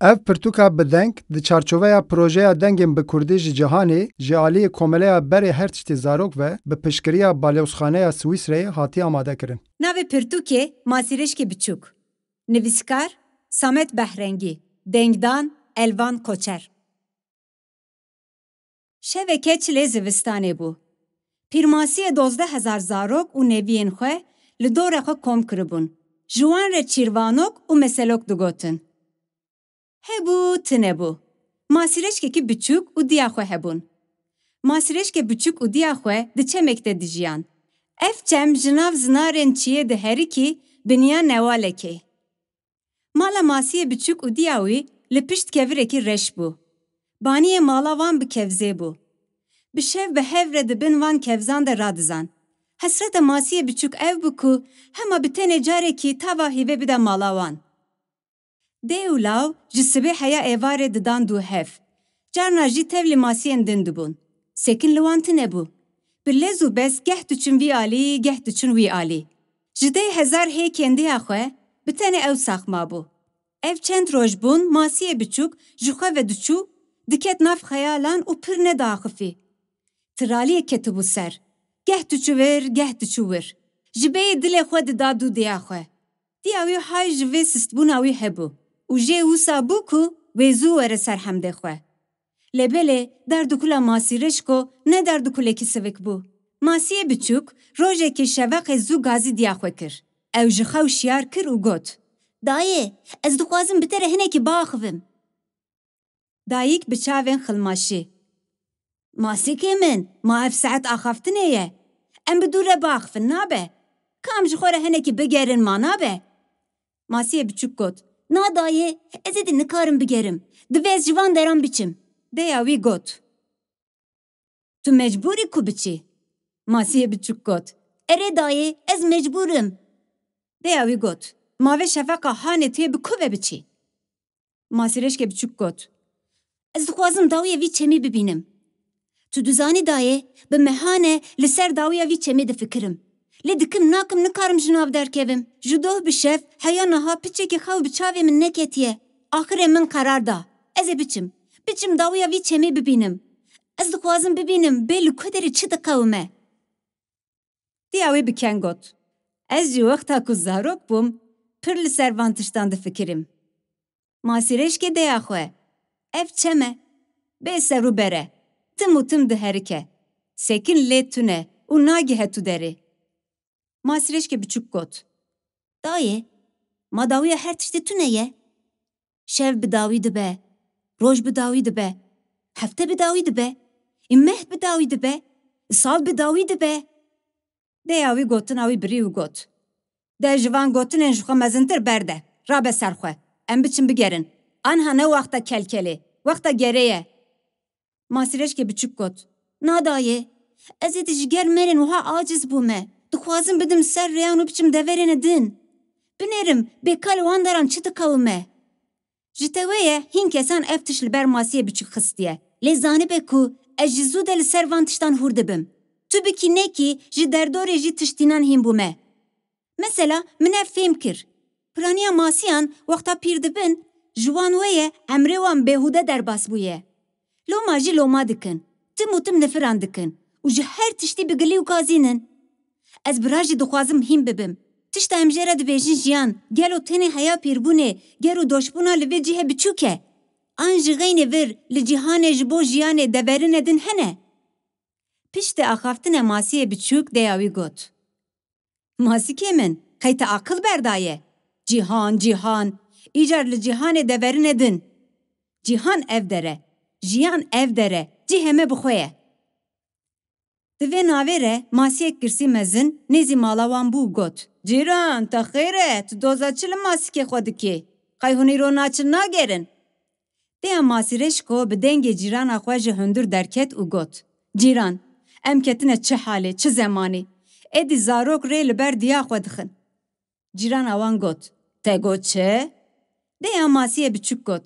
Ev pirtûka Bi deng di çarçoveya projeya dengên bi kurdî ji cîhanê ji aliyê Komeleya Berê Her Tiştê Zarok ve bi piştgiriya Balewsxaneya Swîsreyê hatiye amadekirin. Navê pirtûkê Masîrêşkê Biçûk, nivîskar, Samet Behrengî, dengdan, Elvan Koçer. Şeveke çilê zivistanê bû. Pîrmasiyê dozdeh hezar zarok û neviyên xwe li dorê xwe kom kiribûn. Ji wan re çîrvanok û meselok digotin. Hebû tine bû. Masîreşkekî biçûk û diya xwe hebûn. Masîreşkê biçûk û diya xwe di çemek de dijiyan. Ev çem ji nav zinarên çiyê di herikî biniya newalekê. Mala Masiyê biçûk û diya wî li pişt kevirekî reş bû. Baniyê mala wan bi kevzê bû. Bi şev bi hev re di bin van kevzan de radizan. Hesreta Masiyê biçûk ev bû ku hema bi tenê carekî tava hîvê bida mala wan. Dê û law ji sibê heya êvarê didan dû hev. Carna jî tevlî Masiyên din dibûn. Sekin li wan tune bû. Bi lez û bes geh diçûn vî alî geh diçûn wî alî. Ji dê hezar hê kêndiya xwe bi tenê ew sax mabû. Ev çend roj bûn masiyê biçûk ji xwe ve diçû, diket nav xeyalan û pir nediaxifî. Tiraliyek ketibû ser. Geh diçû vir, geh diçû wir. Ji bêyî dilê xwe dida dû diya xwe. Diya wî hay ji vê sistbûna wî hebû û jê wisa bû ku wê zû were ser hemdê xwe. Lê belê derdikula Masî Rişko ne derdikulekî sivik bû. Masiyê biçûk rojekê şeveqê zû gazî diya xwe kir. Ew ji xew şiyar kir û got. Dayê, ez dixwazim bi te re hinekî biaxivim. Dayîk bi çavên xilmaşî. Masîkê min, ma ev saet axaftinê ye. Em bi dû re biaxivin nabe. Kam ji xwe re hinekî bigerin ma nabe. Masiyê biçûk got, Na dayê, ez êdî nikarim bigerim. Divê ez ji van deran biçim. Deya wî got, Tu mecbûr î ku biçî. Masiyê biçûk got, Erê dayê, ez mecbûr im. Deya wî got, Ma vê şefeqa hanê tu yê bi ku ve biçî? Masîreşkê biçûk got, Ez dixwazim dawiyê vî çemî bibînim. Tu dizanî dayê, bi mehan e li ser dawiya vî çemê difikirim. Lê dikim nakim nikarim ji nav derkevim. Ji doh bi şev heya niha piçekî xew bi çavê min neketiye. Axirê min qerar da, Ez ê biçim. Biçim dawiya vî çemê bibînim. Ez dixwazim bibînim bê li ku derê çi diqewime. Tiya wê bi keng got, Ez ji wexta ku zarok bûm pir li ser van tiştan difikirim. Masîrêşkê deya xwe, ev çem e, bê ser û ber e, tim û tim diherike, sekin lê tun e û nagihe tu derê. Masîrêşkê biçûk got, Dayê, ma dawiya her tiştê tune ye. Şev bi dawî dibe, roj bi dawî dibe, hefte bi dawî dibe, ê meh bi dawî dibe, ê sal bi dawî dibe. Dêya wî gotina wî birî û got, De ji van gotinên ji xwe mezintir berde, rabe ser xwe, em biçin bigerin. Anha ne wexta kelkelê, wexta gerê ye. Masîreşkê biçûk got, Na dayê, ez êdî ji gel merên wiha aciz bûme. Dixwazim bidim ser rêyan û biçim deverêne din. Binêrim bêka li wan daran çi diqewime. Ji tewê ye hîn kesan ev tişt li ber masiyê biçûk xistiye. Lê zanibe ku ez ji zû de li ser van tiştan hûr dibim. Tu bikî nekî ji derdorê jî tiştînan hîn bûme. Mesela min ev fêm kir, piraniya masiyan wexta pîr dibin ji wan we ye emrê wan bêhude derbas bûye. Loma jî loma dikin, tim û tim nifiran dikin û ji her tiştî bi gilî û kazîn in. Ez bi rajî dixwazim hîn bibim. Tişta em jê re dibêjin jiyan, gelo tenê heya pîrbûnê, ger û doşbûna li vê cihê biçûk e? An ji xeynê vir li cîhanê ji bo jiyanê deverine din hene? Piştî axaftine masiyê biçûk deya wî got. Masikê min, qey te aqil berdaye? Cîhan, cîhan, îcar li cîhanê de verine din. Cîhan ev der e, jiyan ev der e, cihê me bi xwe ye. Di vê navê re masiyek girsî mezin nêzî mala wan bû û got. Cîran, te xêr e, tu doza çi li masikê xwe dikî? Qey hûn îro naçin nagerin? Têya Masîreşko bi dengê cîrana xwe ji hundir derket û got, Cîran, em ketine çi halê, çi zemanê. Êdî zarok rê li ber diya xwe dixin. Cîrana wan got, Te got çi? Dêya Masîyê biçûk got,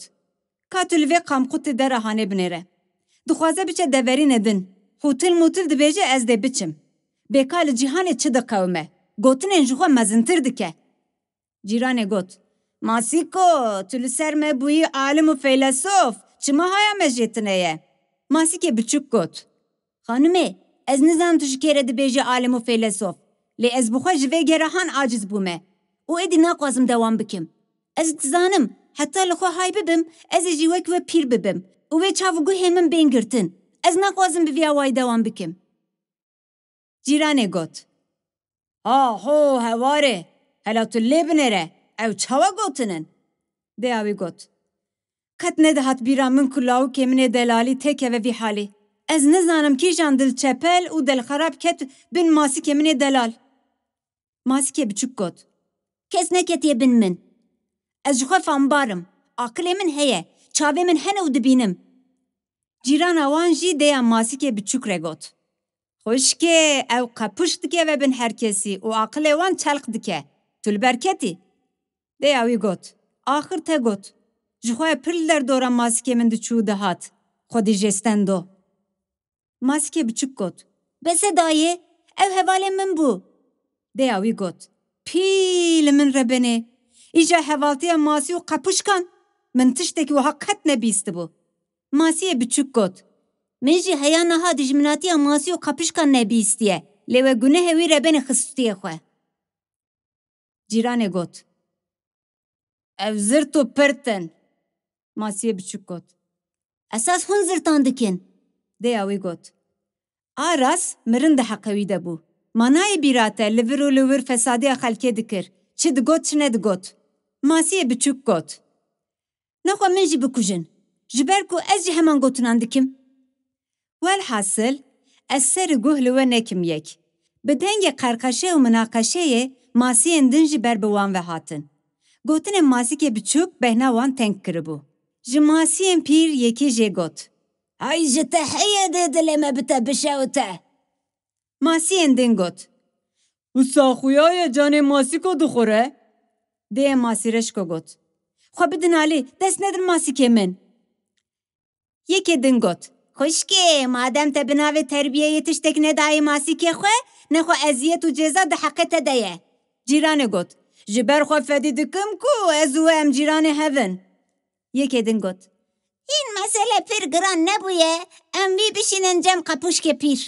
Ka tu li vê qamqûtê de re hanê binêre. Dixwaze biçe deverîne din. Hûtil mûtil dibêje ez dê biçim. Bêka li cîhanê çi diqewime. Gotinên ji xwe mezintir dike. Cîranê got, Masîko, tu li ser me bûyî alim û feylesof, çima haya me jê tune ye? Masîkê biçûk got, Xanimê, ez nizanim tu ji kê re dibêjî alim û feylesof, lê ez bi xwe ji vê gera han aciz bûme û êdî naxwazim dewam bikim. Ez dizanim, heta li xwe hay bibim, ez ê jî wek we pîr bibim û wê çav û guhên min bên girtin. Ez naxwazim bi vî awayî dewam bikim. Cîranê got, Ha ho hewarê, hela tu lê binêre, ew çawa gotin in? Dêya wî got, Qet nedihat bîra min ku lawikê min ê delalî têkeve vî halî. Ez nizanim kîjan dilçepel û delxerab ket bin masikê min ê delal. Masikê biçûk got. Kes neketiye bin min. Ez ji xwe fambar im. Aqilê min heye. Çavê min hene û dibînim. Cîrana wan jî dêya Masikê biçûk re got. Xwişkê, ew qepûş dikeve bin her kesî û aqilê wan çelq dike. Tu li ber ketî? Dêya wî got. Axir te got. Ji xwe pir li derdora Masikê min diçû û dihat. Xwedî jê stendo. Masikê biçûk got, Bese dayê, ew hevalê min bû. Dêya wî got, Pî li min re benê, îja hevaltiya masî û qepûşkan, min tiştekî wiha qet nebîstibû. Masiyê biçûk got, Min jî heya niha dijminatiya masî û qepûşkan nebîstiye, lê we gunehê wî re benê xistûyê xwe. Cîranê got. Ev zirt û pirt in. Masiyê biçûk got. Esas hûn zirtan dikin. Dêya wî got. Aras mirin di heqê wî de bû. Ma nayê bîra te li vir û li wir fesadiya xelkê dikir. Çi digot çi nedigot. Masiyê biçûk got. nexwe min jî bikujin ji ber ku ez jî heman gotinan dikim. Welhasil ez ser û guh li we nekim yek. Bi dengê qerqeşe û minaqeşeyê masiyên din jî ber bi wan ve hatin. Gotinên masîkê biçûk behna wan teng kiribû. Ji masiyên pîr yekê jê got. Hay ji te heye dê dilê me bi te bişewite. Masiyên din got. Wisa xuya ye canê masiko dixwure. Dê Masî Reşko got. Xwe bidin alî, dest nedin masikê min. Yekê din got. Xwişkê, madem te bi navê terbiyeyê tiştek nedayê masikê xwe, nexwe eziyet û ceza di heqê te de ye. Cîranê got. Ji ber xwe fedî dikim ku ez û we em cîranê hev in. Yekê din got. Hîn mesele pir giran nebûye, em wî bişînin cem qepûşkê pîr.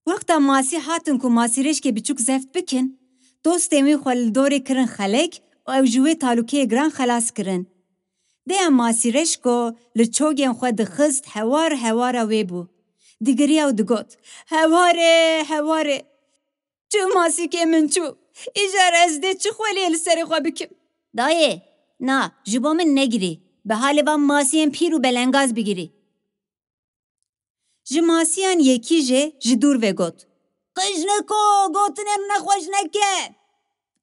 Wexta masî hatin ku masîrêşkê biçûk zeft bikin, dostên wî xwe li dorê kirin xelek û ew ji wê talûkeyê giran xelas kirin. Dêya masîreşko li çogên xwe dixist hewar hewara wê bû. Digiriya û digot, Hewarê! Hewarê! Çi masîkê min çû. Îcar ez dê çi xweliyê li serê xwe bikim? Dayê, na, ji bo min negirî. Bi halê van masiyên pîr û belengaz bigirî. Ji masiyan yekî jê ji dûr ve got. Qij neko, gotinê min ne xweş neke.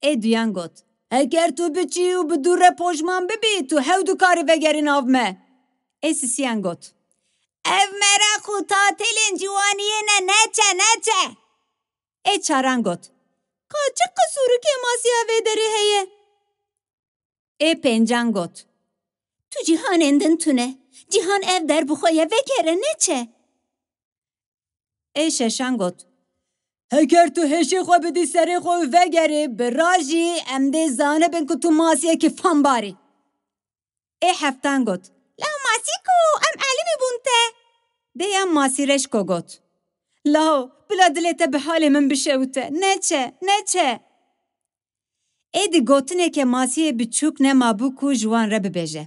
Ê duyan got. Heger tu biçî û bi dûr re pojman bibî, tu hew dikarî vegerî nav me. Ê sisiyan got. Ev meraq û tatilên ciwaniyê ne, neçe, neçe. Ê çaran got, Ka çi qisûr û kêmasiya vê derê heye? Ê pêncan got, Tu cîhanên din tune, cîhan ev der bi xwe ye vekere neçe. Ê şeşan got, Heger tu hêşê xwe bidî serê xwe û vegerî bi rajî em dê zanibin ku tu masiyekî fanbar î. Ê Heftan got, Law Masî ku em alimî bûn te? Dê ya Masî Reşko got, Law, bila dilê te bi halê min bişewite, neçe, neçe. Êdî gotineke Masiyê biçûk nemabû ku ji wan re bibêje.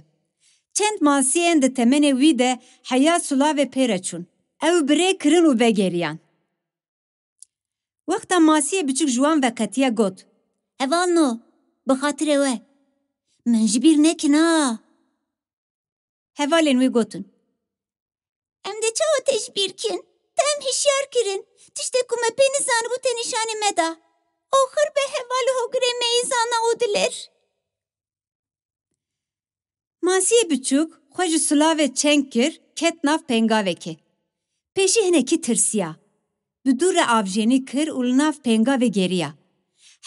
Çend Masiyên di temenê wî de heya sulavê pê re çûn. Ew bi rê kirin û vegeriyan. Wexta masiyê biçûk ji wan ve ketiye got. Heval no, bi xatirê we. Min ji bîr nekin a. Hevalên wê gotin. Em dê çawa te ji bîr kin? Te em hişyar kirin. Tiştê ku me pê nizanibû te nîşanî me da. Oxir be heval û hogirê me yê zana û dilir. Masiyê biçûk xwe ji silavê çeng kir ket nav pengavekê. Pêşî hinekî tirsiya. Bi dû re avjênî kir û li nav pengavê geriya.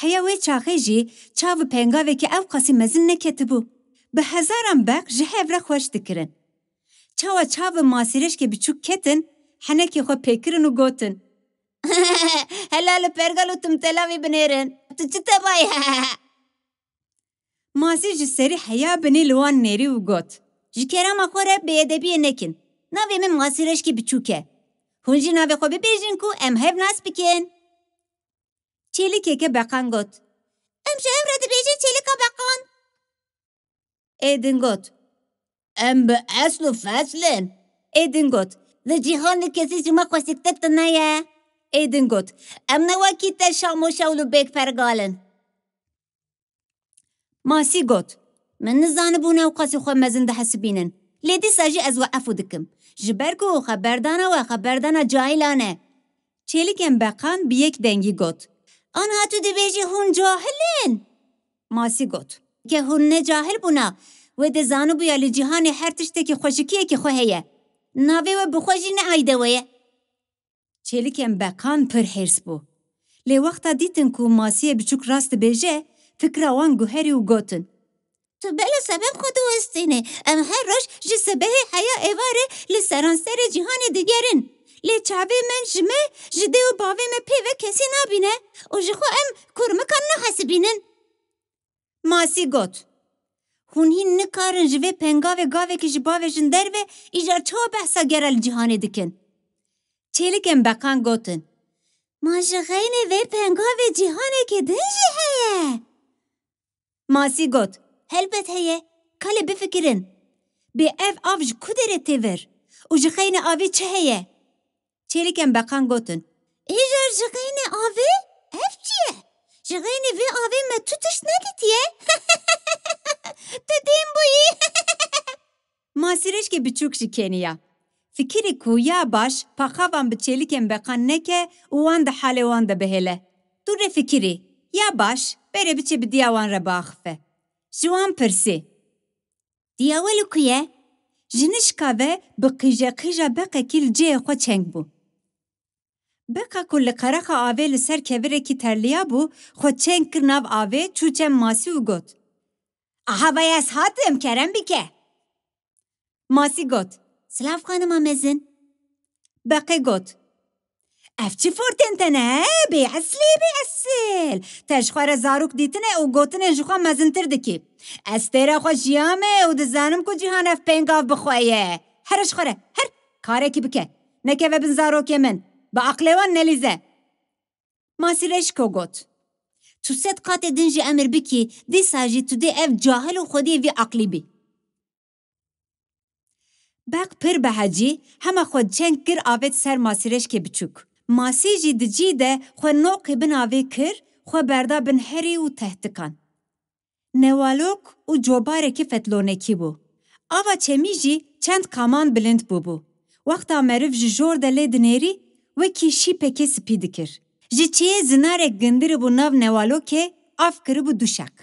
Heya wê çaxê jî çav û pengavekê ewqasî mezin neketibû. Bi hezaran beq ji hev re xweş dikirin. Çawa çav û masîreşkê biçûk ketin henekê xwe pêkirin û gotin. Hela li pergal û timtelavî binêrin. Tu çi te bayî? Masî ji serî heya binî li wan nêrî û got, Ji kerama xwe re bêedebiyê nekin. Navê min Masî Reşkî Biçûk e. Hûn jî navê xwe bibêjin ku em hev nas bikin. Çêlikeke beqan got, Em ji hev re dibêjin Çêlika Beqan. Êdin got, Em bi esl û fesl in. Êdin got, Li cîhanê kesî ji me xweşiktir tune ye. Êdin got, Em ne wekî te şamoşewl û bêkpergal in. Masî got, Min nizanibû newqasî xwe mezin dihesibînin. Lê dîsa jî ez we efû dikim. Ji ber ku xeberdana we xeberdana cahilan e. Çêlikên beqan bi yek dengî got, Anha tu dibêjî hûn cahil in? Masî got. Ke hûn ne cahil bûna, wê de zanibûya li cîhanê her tiştekî xweşikiyekî xwe heye. Navê we bi xwe jî ne Aydewe ye. Çêlikên beqan pir hêrs bû. Lê wexta dîtin ku masiyê biçûk rast dibêje, fikra wan guherî û gotin. Tu bela sebem xwe diwestînî. Em her roj ji sibehê heya êvarê li seranserê cîhanê digerin. Lê çavê min ji me, ji dê û bavê me pê ve kesî nabîne û ji xwe em kurmikan nahesibînin. Masî got, Hûn hîn nikarin ji vê pengavê gavekî ji bavê jin derve îcar çawa behsa gera li cîhanê dikin. Çêlikên beqan gotin, Ma ji xeynê vê pengavê cîhanekî din jî heye. Masî got, Helbet heye, ka lê bifikirin. Bê ev av ji ku derê tê vir û ji xeynê avê çi heye? Çêlikên beqan gotin. Îcar ji xênê avê? Ev çi ye? Ji xênê vê avê me tu tişt nedîtiye? Tu dîn bûyî? Masîreşkê biçûk jî keniya. Fikirî ku ya baş paxavan bi çêlikên beqan neke û wan di halê wan de bihêle. Tu rê fikirî, ya baş, berê biçê bi diya wan re biaxife. Ji wan pirsî. Diya we li ku ye? Jinişka ve bi qîjeqîja beqekî li cihê xwe çeng bû. Beqa ku li qerexa avê li ser kevirekî terliyabû, xwe çeng kir nav avê, çû çem Masî û got, Aha vay ez hatim, kerem bike! Masî got, Silav xanima mezin. Beqê got, Ev çi fortên te ne? Bêeslê bêesil! Te ji xwe re zarok dîtine û gotinên ji xwe mezintir dikî. Ez têra xwe jiya me û dizanim ku cîhan ev pêngav bi xwe ye. Here ji xwe re, her! Karekî bike. Nekeve bin zarokê min. Bi aqlê wan nelîze. Masî Reşko got. Tu sed qatê din jî emir bikî, dîsa jî tu dê ev cahil û xwediyê vî aqlî bî. Beq pir behecî hema xwe ceng kir avêt ser masîreşkê biçûk. Masî jî di cî de xwe noqî bin avê kir, xwe berda bin herî û tehtikan. Newalok û cobarekî fetlonekî bû. Ava çemî jî çend kaman bilind bûbû. Wexta meriv ji jor de lê dinêrî, wekî şîpekê sipî dikir. Ji çiyê zinarek gindiribû nav newalokê, av kiribû du şeq.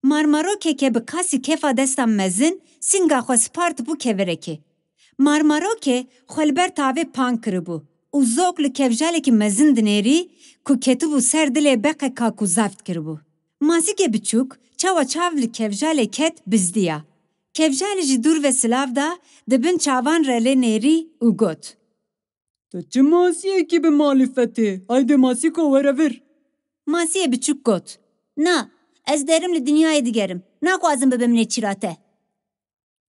Marmarokeke bi kasî kêfa desta mezin sînga xwe spartibû kevirekê. Marmarokê xwe li ber tavê pank kiribû û zok li kevjalekî mezin dinêrî ku ketibû ser dilê beqe kak û zeft kiribû. Masîkê biçûk çawa çav li kevjalê ket bizdiya. Kevjalê jî dûr ve silav da di bin çavan re lê nêrî û got. To çi masiyekî bi malîfetê, haydê masîko were vir. Masiyê biçûk got, Na, ez derim li dinyayê digerim, naxwazim bibim nêçîra te.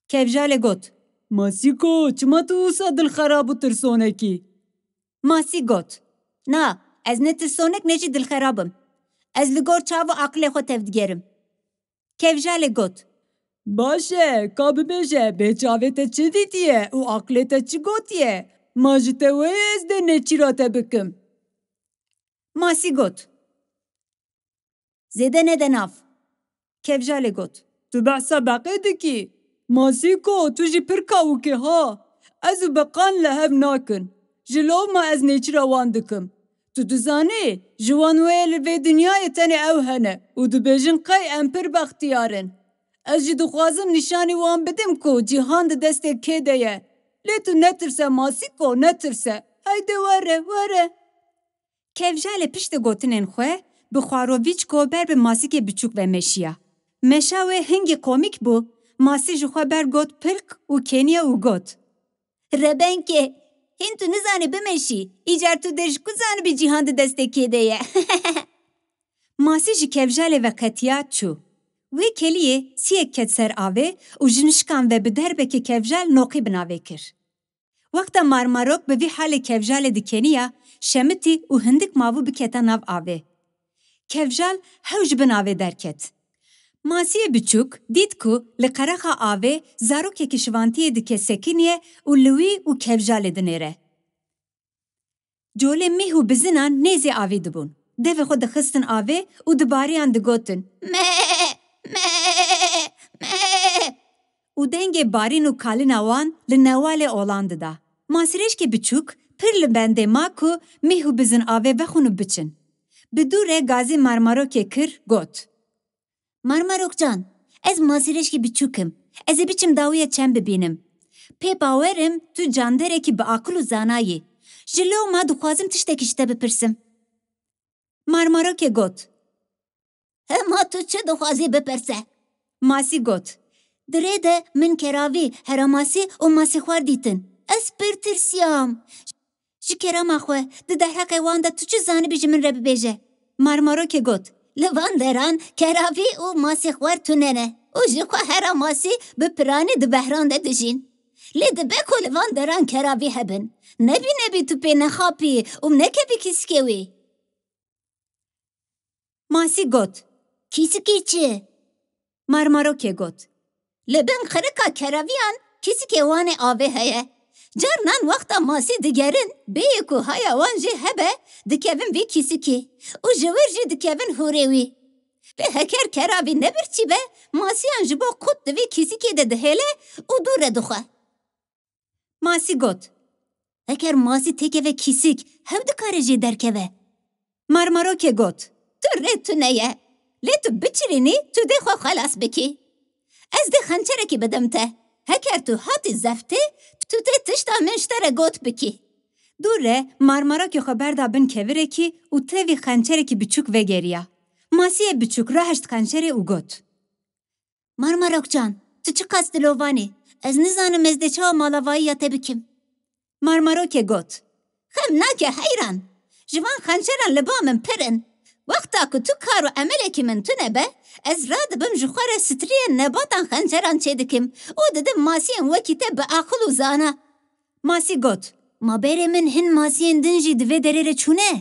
Kevjalê got. Masîko, çima tu wisa dilxerab û tirsonek î? Masîk got, Na, ez ne tirsonek ne jî dilxerab im. Ez li gor çav û aqilê xwe tev digerim. Kevjalê got. Baş e, ka bibêje bê çavê te çi dîtiye û aqilê te çi gotiye? Ma ji te wê ye ez dê nêçîra te bikim. Masî got. Zêde nede nav. Kevjalê got. Tu behsa beqê dikî. Masî ko tu jî pir kawik î ha. Ez û beqan li hev nakin. Ji lav ma ez nêçîra wan dikim. Tu dizanî ji wan wê li vê dinyayê tenê ew hene û dibêjin qey em pir bextiyar in. Ez jî dixwazim nîşanî wan bidim ku cîhan di destê kê de ye. Lê tu netirse Masîko, netirse. Heydê were, were. Kevja li piştê gotinên xwe bi xwarovîçko ber bi Masîkê biçûk ve meşiya. Meşa wê hingî komîk bû. Masî ji xwe ber got pirq û kêniya û got. Rebenkê, hîn tu nizanî bimeşî, îcar tu dê ji ku zanibî cîhan di destê kê de ye. Masî ji kevjalê ve qetiya çû. Wê keliyê siyek ket ser avê û ji nişkan ve bi derbekê kevjal noqî bi navê kir. Wexta Marmarok bi vî halê kevjalê dikeniya, şemitî û hindik mavû biketa nav avê. Kevjal hew ji bin avê derket. Masiyê biçûk dît ku li qerexa avê zarokekî şivantiyê dike sekiniye û li wî û Kevjalê dinêre. Colê mîh û bizinan nêzî avî dibûn. Devê xwe dixistin avê û dibariyan digotin, Me! Me! Me! Û dengê barîn û kalina wan li newalê olan dida. Masirêşkê biçûk pir li bendê ma ku mêh û bizin avê vexwin û biçin. Bi dû re gazê Marmarokê kir, got. Marmarok can, ez masirêşkê biçûk im, ez ê biçim dawiya çem bibînim. Pê bawer im tu canderekî bi aqil û zana yî. Ji lewma dixwazim tiştekî ji te bipirsim. Marmarokê got. Hema tu çi dixwazî bipirse? Masî got, Di rê de min keravî, heramasî û masîxwar dîtin. Ez pir tirsiyam. Ji kerama xwe, di dehreqê wan de tu çi zanibî ji min re bibêje. Marmarokê got, Li van deran keravî û masîxwar tune ne û ji xwe heramasî bi piranî di behran de dijîn. Lê dibe ku li van deran keravî hebin. Nebî nebî tu pê nexapî û nekevî kîskê wî. Masî got. Kîsikê çi? Marmarokê got. Li bin xirika kereviyan kîsikê wanê avê heye. Carnan wexta masî digerin bêyê ku haya wan jê hebe dikevin vê kîsikê û ji wir jî dikevin hûrê wî. Lê heker keravî ne birçî be, masîyan ji bo qut di vê kîsikê de dihêle û dû re dixwe. Masî got, Eger masî têkeve kîsik, hew dikare jê derkeve. Marmarokê got, Tu rê tune ye, lê tu biçirînî tu dê xwe xelas bikî. Ez dê xençerekî bidim te, heker tu hatî zeftê tu dê tişta min ji te re got bikî. Dûr re marmarokê xwe berda bin kevirekî û tevî xençerekî biçûk vegeriya. Masiyê biçûk rahişt xençerê û got. Marmarok can, tu çi qas dilovan î, ez nizanim ez dê çawa malavayîya te bikim. Marmarokê got, Xem nake heyran, ji van xençeran li ba min pir in. Wexta ku tu kar û emelekî min tune be, ez radibim ji xwe re striyên nebatan xençeran çêdikim û didim masiyên wekî te bi aqil û zana. Masî got, Ma berê min hin masiyên din jî di vê derê re çûne.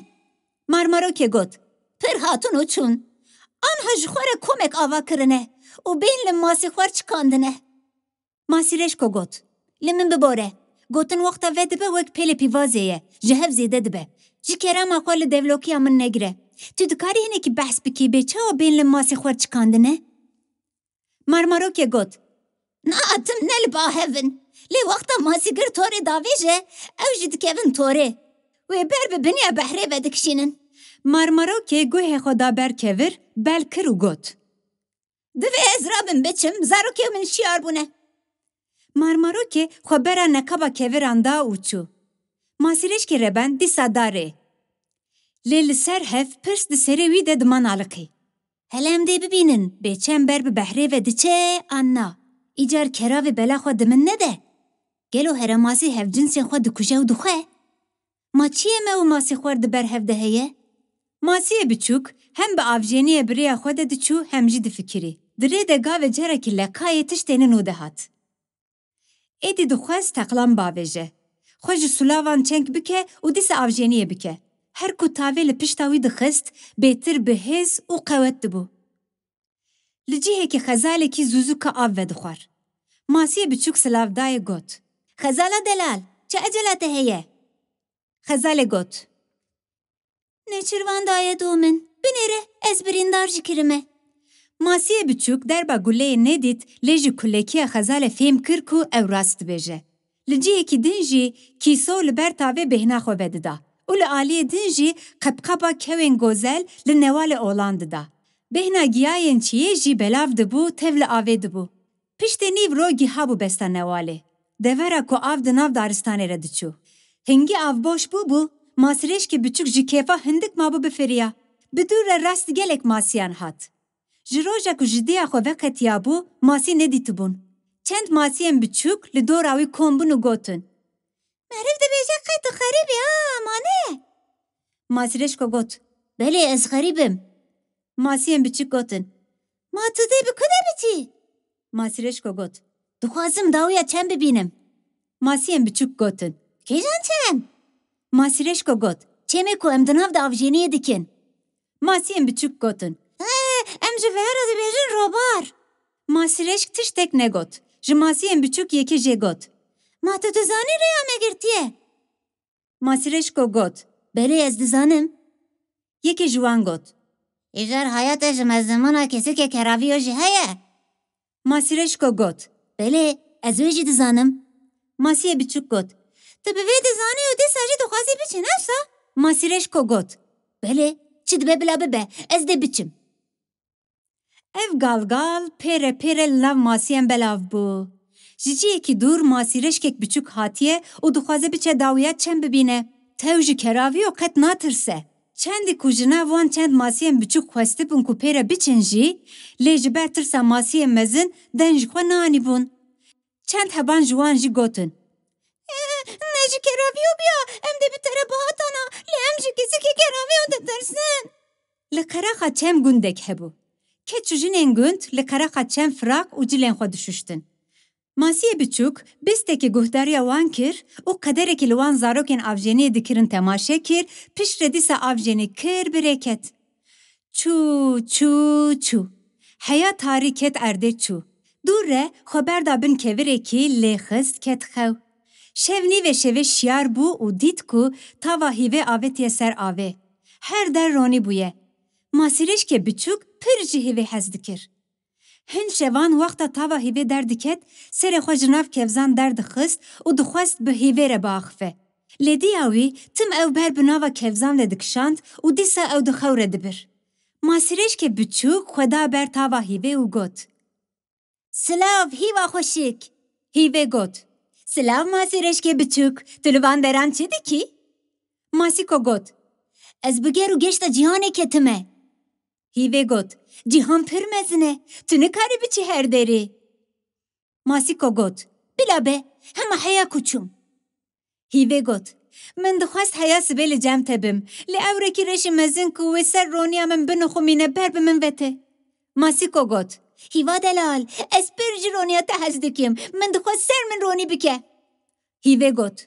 Marmarokê got, Pir hatin û çûn. Anha ji xwe re komek ava kirine û bên li masî xwer çikandine. Masîreşko got, Li min bibore, gotin wexta ve dibe wek pêlê pîvazê ye, ji hev zêde dibe. Ji kerema xwe li devlokiya min negire. Tu dikarî hinekî behs bikî bê çawa bên li masî xwer çikandine? Marmarokê got. Na tim ne li ba hev in. Lê wexta Masîgir torê davêje, ew jî dikevin torê. Wê ber bi biniya behrê ve dikişînin. Marmarokê guhê xwe da ber kevir, bel kir û got. Divê ez rabim biçim, zarokê min şiyar bûne. Marmarokê xwe bera neqaba keviran da û çû. Masîreşkê reben dîsa da rê. Lê li ser hev pirs di serê wî de diman aliqî. Hele em dê bibînin bê çem ber bi behrê ve diçe an na. Îcar keravê bela xwe di min nede. Gelo here masî hevcinsên xwe dikuje û dixwe? Ma çiyê me û masî xwer di ber hev de heye? Masiyê biçûk hem bi avjêniyê bi rêya xwe de diçû hem jî difikirî. Di rê de gavê carekî leqayê tiştê nino de hat. Êdî dixwest teqlan bavêje. Xwe ji sulavan çeng bike û dîsa avjeniyê bike. Her ku tavê li pişta wî dixist, bêtir bi hêz û qewet dibû. Li cihekî xezalekî zûzûka av vedixwar. Masiyê biçûk silav dayê got. Xezala delal, çi ecele te heye? Xezalê got. Nêçirvan daye do min. Binêre, ez birîndar jî kirime. Masiyê biçûk derba guleyê nedît lê ji kulekiya xezalê fêm kir ku ew rast dibêje. Li cihekî din jî kîso li ber tavê bêhna xwe vedida û li aliyê din jî qepqaba kewên gozel li newalê olan dida. Bêhna giyayên çiyê jî belav dibû tev li avê dibû. Piştê nîv rogî habû besta Newalê. Devera ku av di nav daristanê re diçû. Hingî av boş bûbû, masirêşkê biçûk ji kêfa hindik mabû bifiriya. Bi dûr re rast gelek masiyan hat. Ji roja ku ji dêya xwe veqetiyabû masî nedîtibûn. Çend masiyên biçûk li dora wî kom bûn û gotin. Meriv dibêje qey tu xerîb î a, ma ne? Masirêşko got, Belê ez xerîb im. Masiyên biçûk gotin, Ma tu dê bi ku de bitî? Masîreşko got, Dixwazim dawiya çem bibînim. Masiyên biçûk gotin, Kîjan çem? Masîreşko got, Çemê ku em di nav de avjêniyê dikin. Masiyên biçûk gotin, Ih, em ji vihera dibêjin robar. Masîreşk tiştek negot. Ji masiyên biçûk yekê jê got, Ma tu dizanî rêya me girtiye? Masirêşko got. Belê ez dizanim. Yekê ji wan got. Îcar hayat e ji me zimana kesikê keravî yo jî heye? Masirêşko got. Belê ez wê jî dizanim. Masiyê biçûk got. Tu bi vê dizanî û dîsa jî dixwazî biçî ne wisa? Masirêşko got. Belê çi dibe bila bibe ez dê biçim. Ev galgal pêre pêre li nav masiyan belav bû. Ji ciyekî dûr masîreşkek biçûk hatiye û dixwaze biçe dawiya çem bibîne. Tew ji keraviyo qet natirse. Çendî ku ji nav wan çend masiyen biçûk xwestibûn ku pêre biçin jî, lê ji ber tirsa masiyên mezin deng ji xwe neanîbûn. Çend heban ji wan jî gotin. Me jî keraviyo biya, em dê bi tere bihatan a, lê em ji kêsekî keraviyan ditirsin. Li qeraxa çem gundek hebû. Keç û jinên gund li qeraxa çem firak û cilên xwe dişuştin. Masiyê biçûk bêstekê guhdariya wan kir û qederekî li wan zarokên avjeniyê dikirin temaşe kir, piştre dîsa avjenî kir bi rê ket. Çû, çû, çû. Heya tarî ket erdê çû. Dûr re xwe berda bin kevirekî lê xist ket xew. Şev nîvê şevê şiyar bû û dît ku tava hîvê avêtiye ser avê. Her der ronî bûye. Masîrêşkê biçûk pir ji hîvê hez dikir. Hin şevan wexta tava hêvê derdiket, serê xwe ji nav kevzan derdixist û dixwest bi hêvê re biaxive. Lê diya wî tim ew ber bi nava kevzan de dikişand û dîsa ew di xew re dibir. Ma sirêşkê biçûk xwe da ber tava hêvê û got. Silav, hîva xwe şik! Hêvê got. Silav ma sirêşkê biçûk, tu li van deran çi dikî? Masîko got. Ez bi ger û geşta cîhanê ketime. Hîvê got, Cîhan pir mezin e, tu nikarî biçî her derê. Masîko got, Bila be, hema heya ku çûm. Hîvê got, Min dixwest heya sibê li cem te bim, lê ewrekî reşê mezin ku wê ser roniya min binixumîne ber bi min vete. Masîko got, Hîva delal, ez pir ji roniya te hez dikim, min dixwest ser min ronî bike. Hîvê got,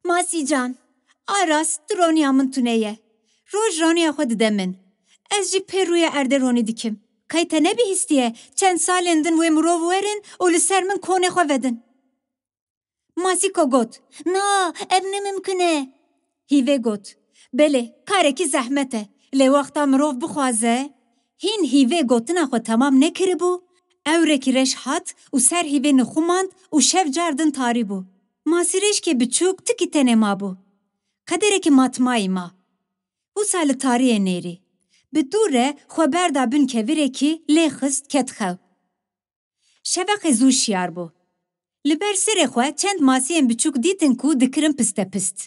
Masî can, a rast tu roniya min tune ye. Roj raniya xwe dide min. Ez jî pê rûyê erdê ronî dikim. Qey te nebihîstiye çend salên din wê mirov werin û li ser min konê xwe vedin? Masîko got, Na, ev nemimkin e. Hîvê got, Belê, karekî zehmet e, lê wexta mirov bixwaze. Hîn Hîvê gotina xwe temam nekiribû, ewrekî reş hat û ser Hîvê nixumand û şev car din tarî bû. Masîrêşkê biçûk tikî tenê mabû. Qederekî matmayî ma. Wisa li tariyê nêrî. Bi dû re xwe berda bin kevirêkî, lê xist ket xew. Şeveqê zû şiyar bû. Li ber serê xwe çend masiyên biçûk dîtin ku dikirin pistepist.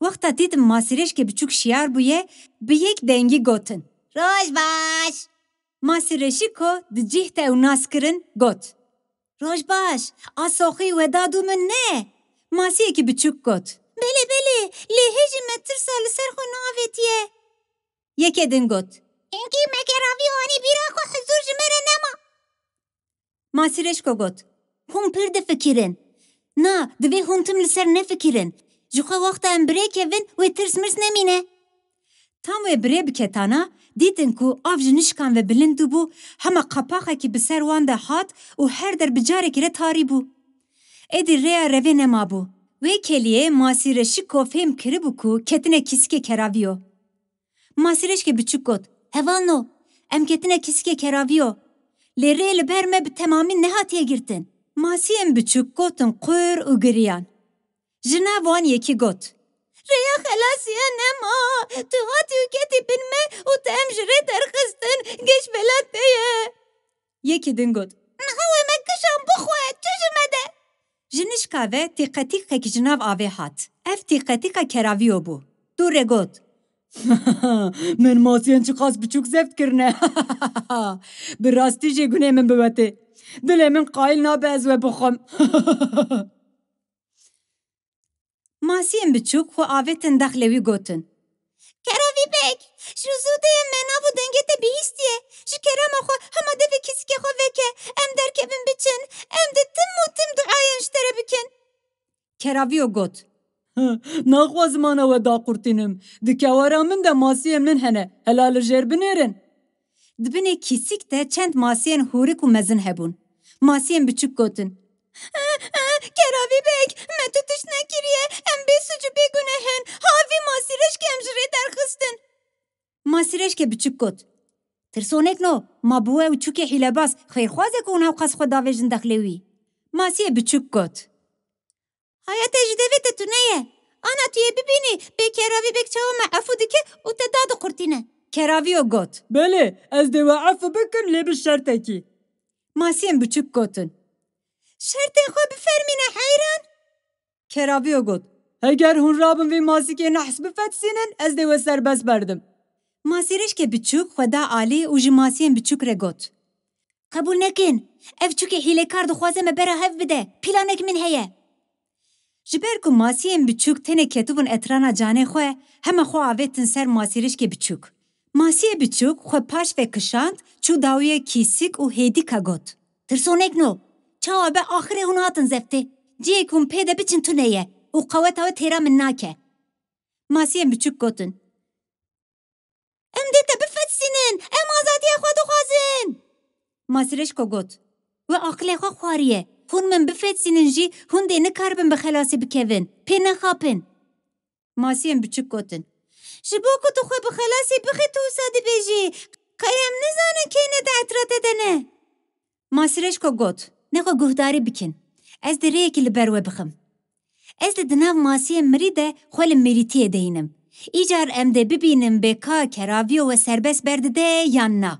Wexta dîtim masîrêşkê biçûk şiyar bûye, bi yek dengî gotin, Roj baş! Masîrêşik ku di cih de ew nas kirin, got, Roj baş! A soxî wedad û min ne! Masiyekî biçûk got, Belê belê, lê hê jî me tirsa li ser xwe neavêtiye. Yekê din got. Hinkî me ke raviyo anî bîra xwe hizûr ji me re nema. Ma Sirêşko got. Hûn pir difikirin. Na, divê hûn tim li ser nefikirin. Ji xwe wexta em birê kevin wê tirs mirs nemîne. Tam wê birê biketana, dîtin ku av ji nişkan ve bilind dû bû, hema qapaxekî bi ser wan de hat û her der bi carekî re tarî bû. Êdî rêya revê nemabû. Wê keliyê ma Sirêşiko fêm kiribû ku ketine kîsikê keraviyo. Masîrêşkê biçûk got, Heval no, em ketine kîsikê keravî yo. Lê rê li ber me bi temamî nehatiye girtin. Masiyên biçûk gotin qur û giriyan. Ji nav wan yekî got, Rêya xelasiye nema, tu hatî û ketî bin me û tu em ji rê derxistin, giş bela te ye. Yekî din got, Niha wê me kişand bixwe, tu ji me de! Ji nişka ve tîqetîqek ji nav avê hat. Ev tîqetîqa Keraviyo bû. Dûre got, Min masiyên çiqas biçûk zeft kirine. Bi rastî jî gunê min biwetê. Dilê min qayil nabe ez we bixwim. Masiyên biçûk xwe avêtin dexlê wî gotin. Kera vî beg, ji û zû deyê me nav û dengê te bihîstiye. Ji kerema xwe hema devê kîsikê xwe veke, em derkevin biçin, em dê tim û tim duayên ji te re bikin. Kera vî û got. Naxwazim ana we daqurtînim. Di kewera min de masiyên min hene, hela li jêr binêrin. Di binê kîsîk de çend masiyên hûrik û mezin hebûn. Masiyên biçûk gotin. Keravî beg, me tu tişt nekiriye, em bê suc û bê guneh in, ha vê masîreşkê em ji rê derxistin. Masîreşkê biçûk got. Tirsonek no, ma bi we û çûkê hîlebaz, xêrxwaz e ku hûn hewqas xwe davêjin dexlê wî. Masiyê biçûk got. Hayatê ji devê te tune ye. Ana tu yê bibînî bê keravî bêk çawa me efû dike û te da diqurtîne. Keravîyo got. Belê, ez dê we efû bikim lê bi şertekî. Masiyên biçûk gotin. Şertên xwe bifermîne heyran. Keravîyo got. Heger hûn rabin vê masîkê nehs bifetisînin ez dê we serbest berdim. Masîreşkê biçûk xwe da alî û ji masiyên biçûk re got. Qebûl nekin. Ev çukê hîlekar dixwaze me bera hev bide. Pîlanek min heye. Ji ber ku masiyên biçûk tenê ketibûn etrana canê xwe, heme xwe avêtin ser masîrişkê biçûk. Masiyê biçûk xwe paş ve kişand, çû dawiyê kîsik û hêdîka got. Tirsonek no! Çawa be axirê hûn hatin zeftê. Cihê ku hûn pê de biçin tune ye û qeweta we têra min nake. Masiyên biçûk gotin. Em dê te bifetisînin! Em azadiya xwe dixwazin! Masirêşko got, We aqilê xwe xwariye. Hûn min bifetisînin jî hûn dê nikaribin bi xelasê bikevin. Pê nexapin! Masiyên biçûk gotin, Ji bo ku tu xwe bi xelasê bixî tu wisa dibêjî, Qey em nizanin kê ne di etrate de ne. Masirêşko got, Nexwe guhdarî bikin. Ez dê rêyekî li ber we bixim. Ez dê di nav masiyên mirî de xwe li mirîtiyê deyînim. Îcar em dê bibînin BK keraviyo we serbest berdide yan na.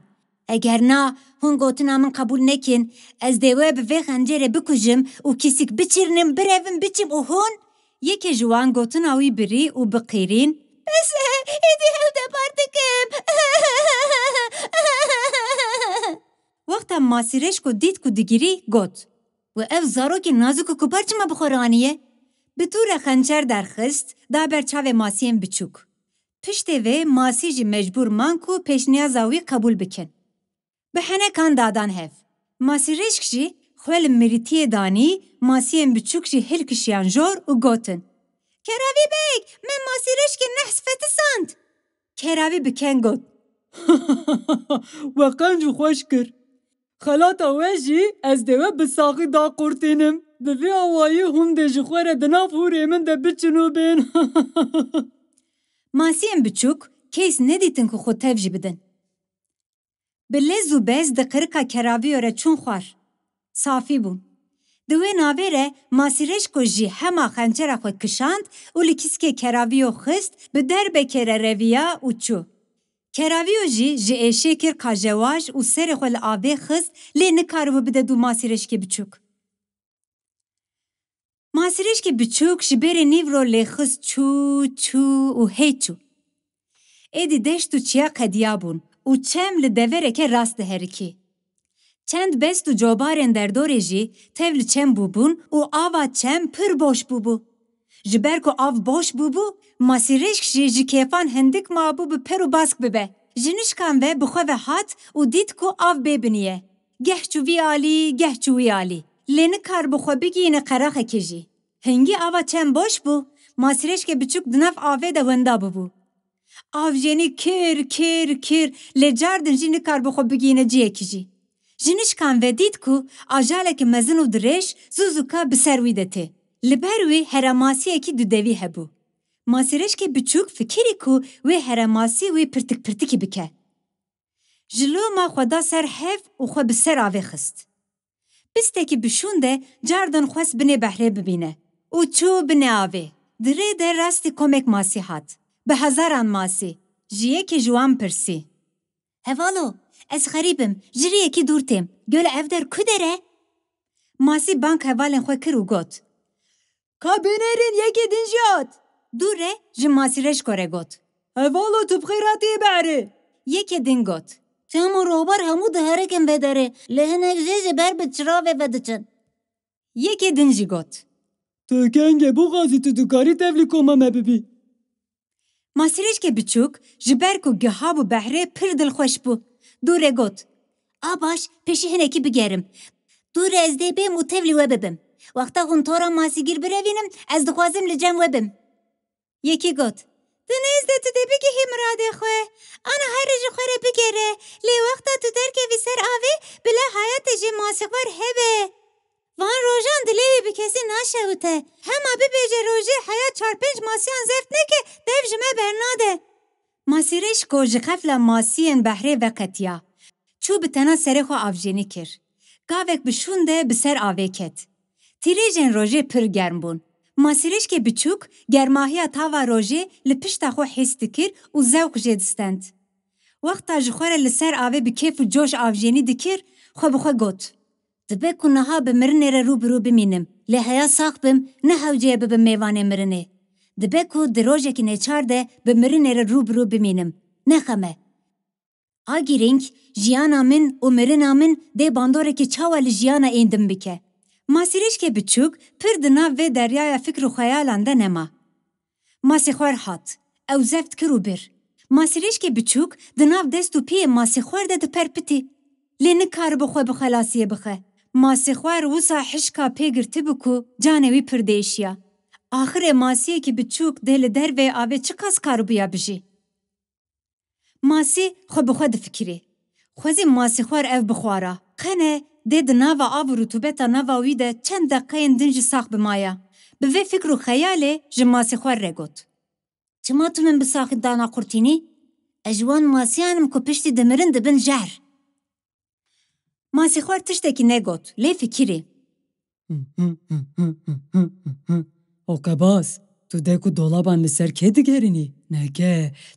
Eger na, hûn gotina min qebûl nekin, ez dê we bi vê xencêrê bikujim û kîsik biçirnim, birevim, biçim û hûn Yekê ji wan gotina wî birî û bi qîrîn, Bes e, êdî hewl depar dikim. Wexta Masî Reşko dît ku digirî, got, We ev zarokê nazik û kubar çima bi xwe re aniye? Bi tû re xençer derxist, da ber çavê Masiyên biçûk. Piştê vê Masî jî mecbûr man ku pêşniyaza wî qebûl bikin. Bi henekan da dan hev. Masî Reşk jî xwe li mirîtiyê danî, Masiyên biçûk jî hilkişiyan jor û gotin, Keravî Beg, me Masî Reşkê nehs fetisand! Keravî bi keng got. We qenc û xweş kir. Xelata we jî ez dê we bi saxî daqurtînim. Bi vî awayî hûn dê ji xwe re di nav hûrê min de biçin û bên. Masiyên biçûk keys nedîtin ku xwe tev jî bidin. Bi lez û bez di qirika Keraviyo re çûn xwar. Safî bûn. Di wê navê re Masîreşko jî hema xencera xwe kişand û li kîskê Keraviyo xist, bi derbekê re reviya û çû. Keraviyo jî ji êşê kir kajewaj û serê xwe li avê xist lê nikaribû bide dû Masîreşkê biçûk. Ma sirêşkê biçûk ji bêrê nîv ro lê xis çû, çû û hê çû. Êdî deşt û çiya qediya bûn û çem li devereke rast diherikî. Çend best û cobarên derdorê jî tev li çem bûbûn û ava çem pir boş bûbû. Ji ber ku av boş bûbû, ma sirêşk jî ji kêfan hindik mabû bi per û bask bibe. Ji nişkan ve bi xwe ve hat û dît ku av bê binî ye. Geh çû vî alî, geh çû wî alî. Lê nikar bi xwe bigihîne qeraxekê jî. Hingî ava çem baş bû, masirêşkê biçûk di nav avê de winda bûbû. Avjênî kir, kir, kir, lê car din jî nikar bi xwe bigihîne cihekî jî. Ji nişkan ve dît ku ajaleke mezin û dirêj zû zû ka bi ser wî de tê. Li ber wî heremasiyekî dudevî hebû. Masirêşkê biçûk fikirî ku wê heremasî wî pirtik pirtikî bike. Ji loma xwe da ser hev û xwe bi ser avê xist. Pistekî bi şûn de cardan xwest binê behrê bibîne û çû binê avê. Di rê de rastî komek masî hat. Bi hezaran masî. Ji yekê ji wan pirsî. Hevalo, ez xerîb im, ji rê yekî dûr têm. Gelo ev der ku der e? Masî bang hevalên xwe kir û got. Ka binêrîn yekî din jî hat. Dûr re ji masîreş kore got. Hevalo tu bi xêr hatiyê berê. Yekê din got. Çem û robar hemû diherikin vê derê, lê hinek jê ji ber bi çiravê ve diçin. Yekê din jî got. Tu kengê boxazî tu dikarî tevlî koma me bibî. Masîrêcikê biçûk ji ber ku gihabû behrê pir dilxweş bû. Dû re got. A baş, pêşî hinekî bigerim. Dû re ez dê bêm û tev li we bibim. Wexta hûn tora masîgîr birevînim, ez dixwazim li cem we bim. Yekî got. Di nêz de tu dê bigihî miradê xwe. Aniha re ji xwe re bigere. Lê wexta tu derkevî ser avê, bila hayatê jê masîxwar hebe. Van rojan dilê wî bi kesî naşewite. Hema bibêje rojê heya çar pênc masiyan zeft neke dev ji me bernade. Masî Reşko ji qefla masiyên behrê veqetiya. Çû bi tena serê xwe avjînî kir. Gavek bi şûn de bi ser avê ket. Tîrêjên rojê pir germ bûn. Masî Reşkê biçûk germahiya tava rojê li pişta xwe hîs dikir û zewq jê distend. Wexta ji xwe re li ser avê bi kêf û coş avjînî dikir, xwe bi xwe got, Dibe ku niha bi mirinê re rû bi rû bimînim, lê heya sax bim, ne hewce ye bibim mêvanê mirinê. Dibe ku di rojekî nêçar de bi mirinê re rû bi rû bimînim, ne xem e. A girîng, jiyana min û mirina min dê bandorekî çawa li jiyana ên din bike. Ma sirêşkê biçûk pir di nav vê deryaya fikr û xeyalan de nema. Masî xwer hat. Ew zeft kir û bir. Masîrêşkê biçûk di nav dest û piyê masî xwer de diperpitî. Lê nikaribû xwe bi xelasiyê bixe. Masî xwer wisa hişka pê girtibû ku canê wî pir diêşiya. Axirê masiyekî biçûk dê li dervê avê çiqas karibûya bijî. Masî xwe bi xwe difikirî. Xwe zî masîxwar ev bixwara. Qene dê di nava av û rutûbeta nava wî de çend deqeyên din jî sax bimaya. Bi vê fikr û xeyalê ji masîxwar re got. Çima tu min bi saxî dana qurtînî? Ez ji wan masiyan im ku piştî dimirin dibin jehr. Masî xwar tiştekî negot, lê fikirî. Hokebaz, tu dek û dolaban li ser kê digerînî? Neke,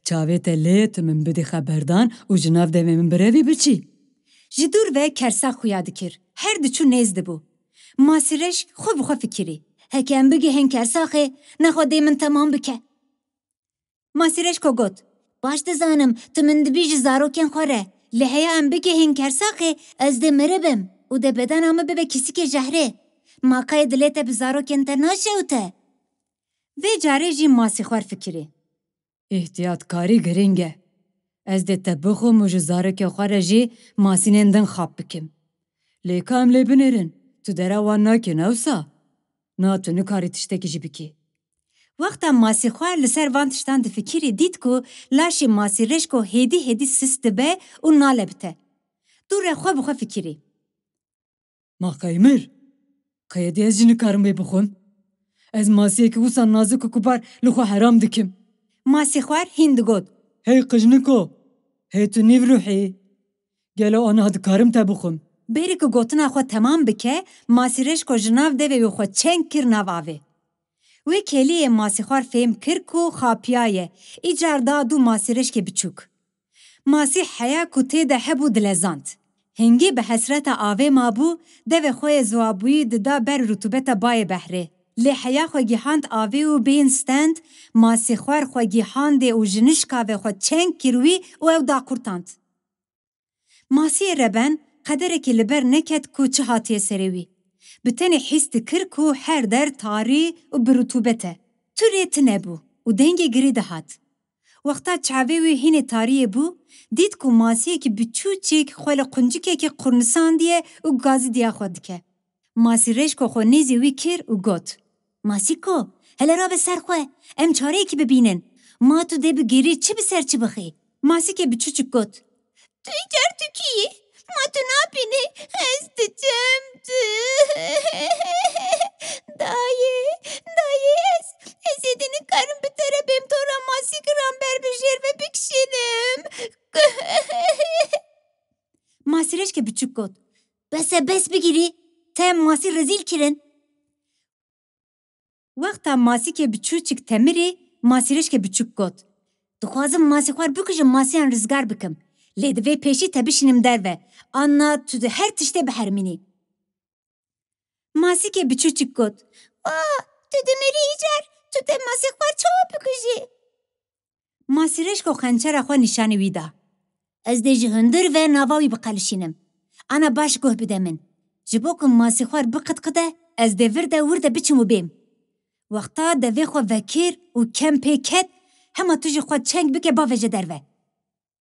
çavê te lê tu min bidî xeberdan û ji nav devê min birevî biçî. Ji dûr ve kersa xuya dikir. Her diçû nêz dibû. Masî reş xwe bi xwe fikirî. Heke em bigihên kersaxê, nexwe dê min temam bike. Masîreşko got, Baş dizanim tu min dibî ji zarokên xwe re, lê heya em bigihîn Kersaqê ez dê miribim û dê bedena min bibe kîsikê jehrê. Makayê dilê te bi zarokên te naşewite. Vê carê jî masî xwer fikirî. Îhtiyatkarî girîng e. Ez dê te bixwim û ji zarokên xwe re jî masînên din xap bikim. Lê ka em lê binêrin tu dera wan nakî ne wisa? Na tu nikarî tiştekî jî bikî. Wexta Masî xwe li ser van tiştan difikirî dît ku laşê Masî Reşko hêdî hêdî sis dibe û nalebite. Dû re xwe bi xwe fikirî. Ma qey mir? Qeyê dî ez jî nikarim wê bixwim? Ez Masîyekî wisa nazik û kubar li xwe heram dikim. Masî xwe hîn digot. Hey qijniko! Hey tu nîv ruhî? Gelo aniha dikarim te bixwim? Berî ku gotina xwe temam bike, Masî Reşko ji nav devê wê xwe çeng kir nav avê. Wê keliyê Masîxwar fêm kir ku xapiya ye, îcar da du Masî Reşkê biçûk. Masî heya ku tê de hebû dilezand. Hingî bi hesreta avê mabû, devê xwe yê ziwabûyî dida ber rûtûbeta bayê behrê. Lê heya xwe gihand avê û bên stend, Masîxwar xwe gihandê û ji nişkavê xwe çeng kir wî û ew da qurtand. Masiyê Reben qederekê li ber neket ku çi hatiye serê wî. Bi tenê hîs dikir ku her der tarî û bi rutûbet e. Tu rê tine bû û dengê girê dihat. Wexta çavê wî hînê tariyê bû, dît ku masiyekî biçûçik xwe li quncikekê qurnisandiye û gazî diya xwe dike. Masî rêşko xwe nêzî wî kir û got, Masîko, hele rabe ser xwe, em çareyekî bibînin. Ma tu dê bi gêrî çi bi ser çi bixî? Masîkê bi çiçik got, Tu î car tu kî yî? Ma tu nabînî, ez diçim tu Dayê, dayê ez, ez êdî nikarim bi te re bêm tora Masîk ram ber bi jêr ve bikişînim. Masîrêşkê bi çik got, Bes e bes bigirî te masî rezîl kirin. Wexta masîkê biçûçik temirî masîrişkê biçûk got, Dixwazim masîxwar bikujim masiyan rizgar bikim. Lê divê pêşî te bişînim derve anna tu di her tiştê bihermînî. Masîkê biçûçik got, Wa tu dimirî îcar tu dê masîxwar çawa bikujî? Ma sirêşk û xençera xwe nîşanî wî da. Ez dê ji hundir ve nava wî biqelişînim. Ana baş guh bide min. Ji bo ku masîxwar biqitqite, ez dê vir de wir de biçim û bêm. Wexta devê xwe vekir û kem pê ket, hema tu jî xwe çeng bike bavêje derve.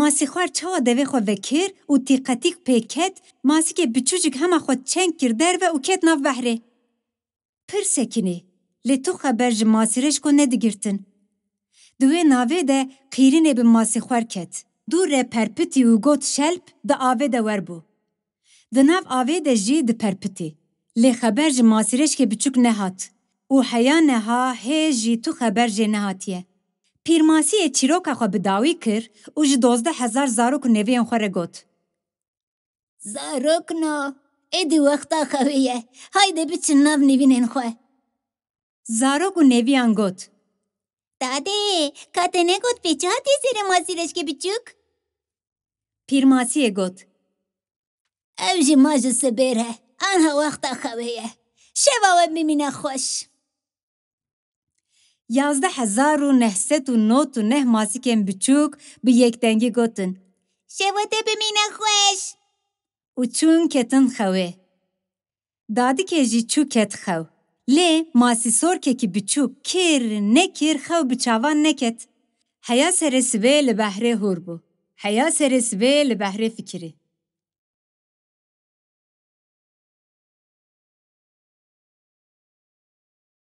Masîxwar çawa devê xwe vekir û tîqetîk pê ket, masîkê biçûcik hema xwe çeng kir derve û ket nav behrê. Pir sekinî, lê tu xeber ji Masîreşko nedigirtin. Di wê navê de qîrînê bi Masîxwar ket. Dû re perpitî û got şelp di avê de werbû. Di nav avê de jî diperpitî. Lê xeber ji masîreşkê biçûk nehat û heya neha hê jî tu xeber jê nehatiye. Pîrmasîyê çîroka xwe bi dawî kir û ji dozdeh hezar zarok û neviyên xwe re got. Zarok na, êdî wexta xewê ye. Haydê biçin nav nivînên xwe. Zarok û neviyan got. Dade, ka te negot pê çi hatiye sêrê Masî Reşkê Biçûk? Pîrmasîyê got. Ew ji ma ji sibê re anha wexta xewê ye. Şeva we bimîne xweş. Yazdeh hezar û neh sed û not û neh masîkên biçûk bi yekdengî gotin. Şeva te bimîne xweş! Û çûn ketin xewê. Dadikê jî çû ket xew. Lê masî sorkekî biçûk kir ne kir xew bi çavan neket. Heya serê sibê li behrê hûr bû. Heya serê sibê li behrê fikirî.